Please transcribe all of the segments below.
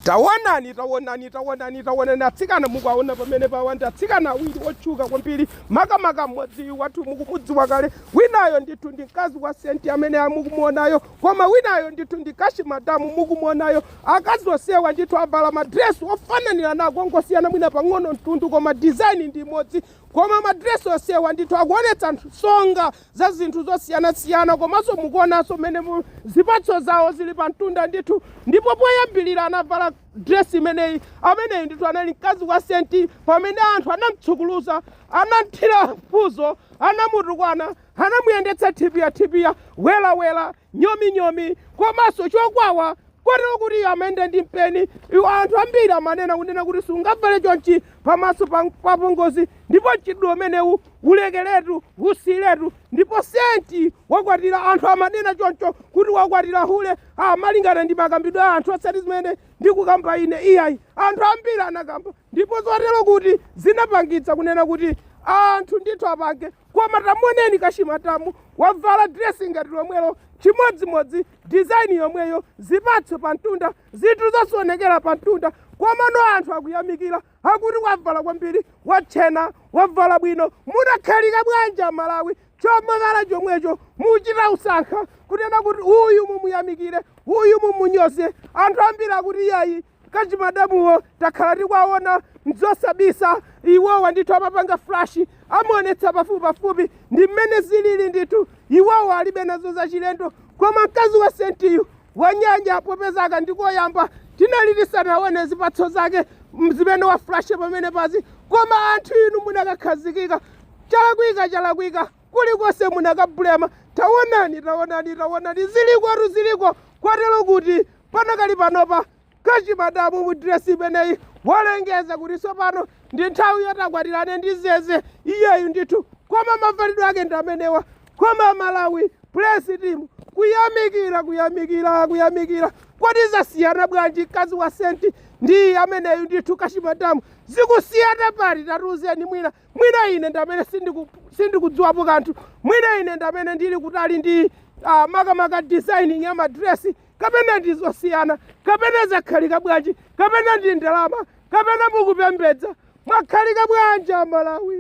Taonani, taonani, taonani, taonani atsikana mukuwaona pamenepawa ndi atsikana awiri otchuka kwambiri, makamaka mmodziyu wathu mukumudziwa kale, winayo ndithu ndi mkazi wa Saint amene amukumuonayo, koma winayo ndithu ndi Cash Madam mukumuonayo. Akazi onsewa ndithu avala madresi ofananiranako, ongosiyana mwina pang'ono mtundu, koma design ndi imodzi, koma madresi onsewa ndithu akuonetsa nsonga za zinthu zosiyanasiyana komanso mukuonanso mmene mu- zipatso zawo zili pa mtunda ndithu ndipo poyambirira anavala dresi imeneyi ameneyi ndithu anali mkazi wa Saint pamene anthu anamtsukuluza anamthira mfuzo anamutukwana anamuyendetsa thipiya thipiya welawela nyominyomi komanso chokwawa kotero kuti iye amayenda ndi mpeni iwo anthu ambiri amanena kunena kuti sungavale chonchi pamaso pa apongozi ndipo mchitidwe umenewu ulekeretu usiyiretu ndipo Saint wakwatira anthu amanena choncho kuti wakwatira hule malingana ndi makambidwe a anthu osati zimene ndikukamba ine iyayi anthu ambiri anakamba ndipo zotero kuti zinapangitsa kunena kuti anthu ndithu apange koma tamuoneni Cash Madam wavala diresi ngati lomwelo chimodzimodzi dizaini yomweyo zipatso pa mtunda zinthu zonse zoonekera pa mtunda komano anthu akuyamikira akuti wavala kwambiri watchena wavala bwino munakhalika bwanji aMalawi chomavala chomwecho muchita usankha kunena kuti uyu mumuyamikire uyu mumunyoze anthu ambiri akuti iyayi Cash Madamuwo takhala tikuwaona nzosabisa iwowa ndithu amapanga flash amaonetsa pafupipafupi ndi mmene zilili ndithu iwowa alibe nazo zachilendo koma mkazi wa Saintiyu wanyanya popeza aka ndikoyamba tinali tisanaone zipatso zake m- zimene waflasha pamenepazi koma anthu inu munakakhazikika chalakwika chalakwika kulikonse munakabulema tawonani tawonani tawonani zilikotu ziliko kotero kuti panakali panopa Cash Madam mu diresi imeneyi walengeza kuti tsopano ndi nthawi yoti akwatirane ndi Zeze iyeyu ndithu koma mavalidwe ake ndi amenewa koma Malawi praise team kuyamikira kuyamikira kuyamikira kodi zasiyana bwanji mkazi wa Saint ndi ameneyu ndithu Cash Madam zikusiyana pati tatiuzeni mwina mwina ine ndamene sindiku- sindikudziwapo kanthu mwina ine ndamene ndili kutali ndi uh, makamaka designing ya madresi kapena ndi zosiyana kapena zakhalika bwanji kapena ndi ndalama kapena mukupembedza mwakhalika bwanji aMalawi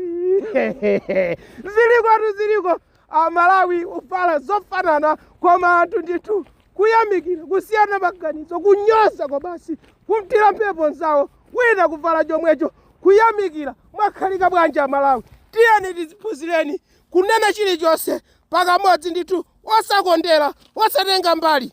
zilikotu ziliko aMalawi uvala zofanana koma anthu ndithu kuyamikira kusiyana maganizo kunyoza kwabasi kumthira mphepo nzawo wina kuvala chomwecho kuyamikira mwakhalika bwanji aMalawi tiyeni tiziphunzireni kunena chilichonse pakamodzi ndithu osakondera osatenga mbali